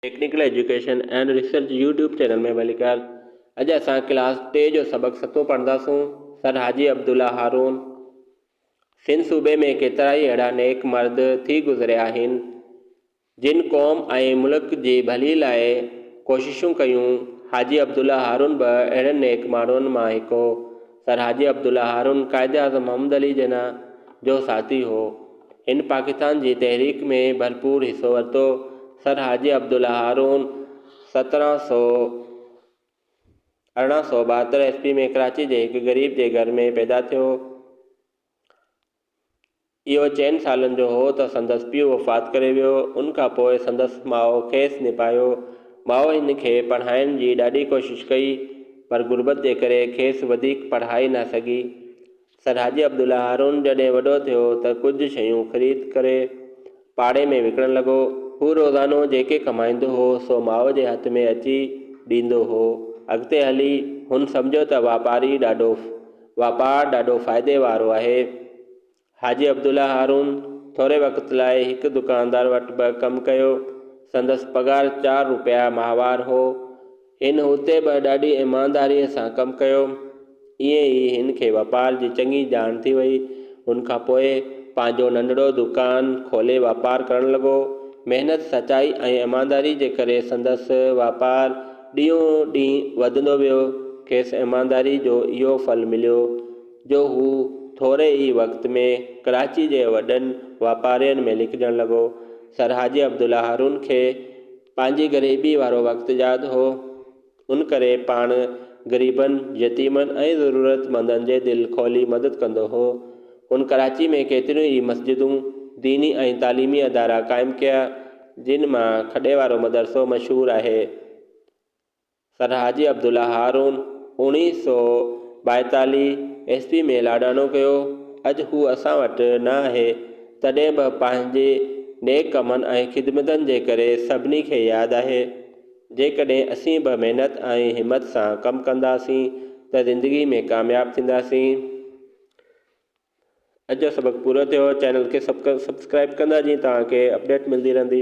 Technical education and research YouTube channel ۾ welcome اڄ اسان class ٽي جو سبق ستون پڙهنداسون سر حاجي عبدالله هارون سنڌ صوبي ۾ ڪيترائي اهڙا نيڪ مرد ٿي گذريا آهن جن قوم ۽ ملڪ جي ڀلي لاء ڪوششون ڪيون حاجي عبدالله هارون به اهڙن نيڪ ماڻهن مان هڪ هو سر حاجي عبدالله هارون قائداعظم محمد علي جناح جو ساٿي هو. هن پاڪستان جي تحريڪ ۾ ڀرپور حصو ورتو. سر حاجي عبدالله هارون سترهن سؤ ارڙهن سؤ ٻاهتر عيسوي ۾ ڪراچي جي هڪ غريب جي گهر ۾ پيدا ٿيو. اهو چئن سالن جو هو ته سندس پيء وفات ڪري ويو. ان کان پوء سندس ماء کيس نڀايو. ماء هن کي پڙهائڻ جي ڏاڍي ڪوشش ڪئي، پر غربت جي ڪري کيس وڌيڪ پڙهائي نه سگهي. سر حاجي عبدالله هارون جڏهن وڏو ٿيو ته ڪجهه شيون خريد ڪري. پاڙي ۾ وڪڻڻ لڳو. هو روزانو جيڪي ڪمائيندو هو سو ماء جي هٿ ۾ اچي ڏيندو هو. اڳتي هلي هن سمجهيو ته واپاري ڏاڍو واپار ڏاڍو فائدي وارو آهي. حاجي عبدالله هارون ٿوري وقت لاء هڪ دڪاندار وٽ به ڪم ڪيو. سندس پگهار چار روپيا ماهوار هو. هن اتي به ڏاڍي ايمانداريء سان ڪم ڪيو. ائين ئي هن کي واپار جي چڱي ڄاڻ ٿي وئي. ان کان پوء پنهنجو ننڍڙو دوڪان کولي واپار ڪرڻ لڳو. محنت، سچائي ۽ ايمانداريء جي ڪري سندس واپار ڏينهون ڏينهن وڌندو ويو. کيس ايمانداريء جو اهو ڦل مليو جو هو ٿوري ئي وقت ۾ ڪراچيء جي وڏن واپارين ۾ لکجڻ لڳو. سر حاجي عبدالله هارون کي پنهنجي غريبي وارو وقت ياد هو، ان ڪري پاڻ غريبن، يتيمن ۽ ضرورتمندن جي دل کولي مدد ڪندو هو. هن ڪراچي ۾ ڪيتريون ئي مسجدون، ديني ۽ تعليمي ادارا قائم ڪيا، جن مان کڏي وارو مدرسو مشهور آهي. سر حاجي عبدالله هارون، اوڻيهه سؤ ٻائيتاليهه، عيسوي ۾ لاڏاڻو ڪيو. اڄ هو اسان وٽ نه آهي، تڏهن به پنهنجي نيڪ ڪمن ۽ خدمتن جي ڪري سڀني کي ياد آهي. جيڪڏهن اسين به محنت ۽ همت سان ڪم ڪنداسين ته زندگي ۾ ڪامياب ٿينداسين. اڄ جو سبق پورو ٿيو. چينل کي سبسڪرائيب ڪندا جيئن توهان کي اپڊيٽ ملندي رهندي.